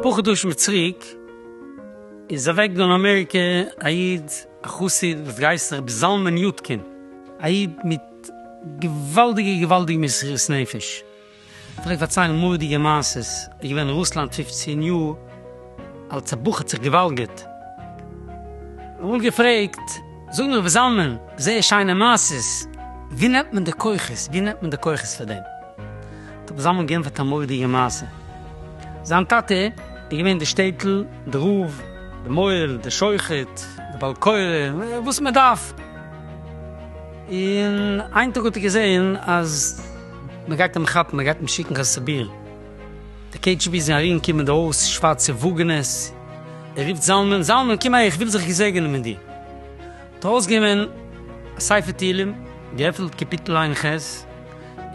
אפאר חדשים צוריק איז אוועק געווארן אין אמעריקע א איד א חסיד וואס גייסט זיך רבי זלמן יודקין, א איד מיט געוואלדיגע געוואלדיגע מסירות נפש, פלעגט פארציילן מורא'דיגע מעשות, איז געווען אין רוסלאנד פֿופֿצן יאר אלט, א בחור האט זיך געוואלגערט, איך האב אמאל געפרעגט, זאג נאר וואס זאל מען, זייער שיינע מעשות, ווי נעמט מען די כוחות, ווי נעמט מען די כוחות פאר דעם, האט רבי זלמן גענטפערט א מורא'דיגע מעשה, זיין טאטע איז געווען די שטעטל, די רב, די מוהל, די שוחט, די בעל קורא, וואס מען דארף, און איין טאג האט ער געזען אז. מען גייט אים כאפן, מען גייט אים שיקן קיין סיביר, די קעי דזשי בי זענען ארום געקומען די הויז, שווארצע וואגענעס, ער רופט זלמן, זלמן קום אהער איך וויל זיך געזעגענען מיט דיר, האט ארויסגענומען א ספר תהילים, געעפנט קאפיטל עין ח',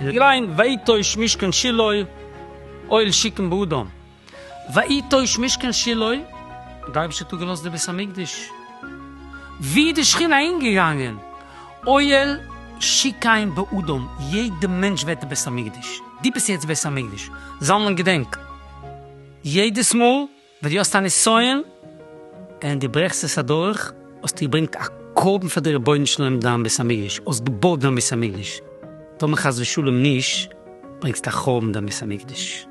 און געליינט ויטוש משכן שילה אוהל שיקום באדום. ויטוש משכן שילו, די אייבערשטער האט אפגעלאזט די בית המקדש, ווי די שכינה אהינגעגאנגען, אוהל שיקיים באדום, יעדע מענטש ווערט די בית המקדש, דו ביסט יעצט בית המקדש, זלמן געדענק, יעדעס מאל ווען דו האסט א נסיון און דו ברעכסט עס אדורך, האסטו געברענגט א קרבן פאר די רבונו של עולם דיין בית המקדש, האסט געבויט דיין בית המקדש, טאמער חס ושלום נישט, ברענגסטו א חורבן דיין בית המקדש.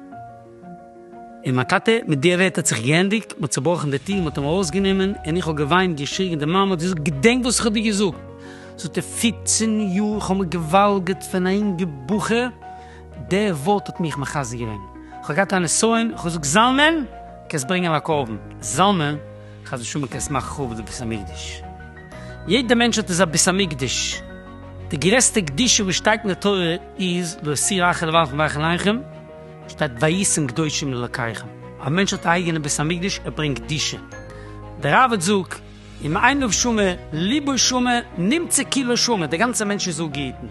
און מיין טאטע, מיט די ווערטער האט זיך געענדיגט, מ'האט צובראכן די טיר, מ'האט אים ארויסגענומען, און איך האב געוויינט, געשריגן, די מאמע האט געזאגט, געדענק וואס איך האב דיר געזאגט! זאגט ער, פופצן יאר, איך האב מיר געוואלגערט פון א אינגע בחור, די ווארט האט מיך מחזק געווען, איך האב געהאט א נסיון, איך האב געזאגט, זלמן, קענסט ברענגען א קרבן, זלמן, חס ושלום קענסט מאכן חרוב די בית המקדש, יעדע מענטשהייט איז א בית המקדש, די גרעסטע קדושה וואס שטייט אין די תורה איז, לא אסיר אחר לבעל חמך אל עיניכם. שטייט ויתן קדושים לאלקיכם, א מענטש האט א אייגענע בית המקדש ער ברענגט קדושה, דער ראבד זאג, אם עיניו שומע ליבו שומע נמצא כולו שומע, דער גאנצער מענטש איז אפגעהיטן,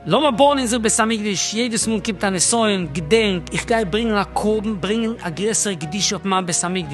לאמיר בויען אונזער בית המקדש, יעדעס מאל קומט א נסיון, געדענק, איך גיי ברענגן א קרבן, ברענגן א גרעסערע קדושה אויף מיין בית המקדש.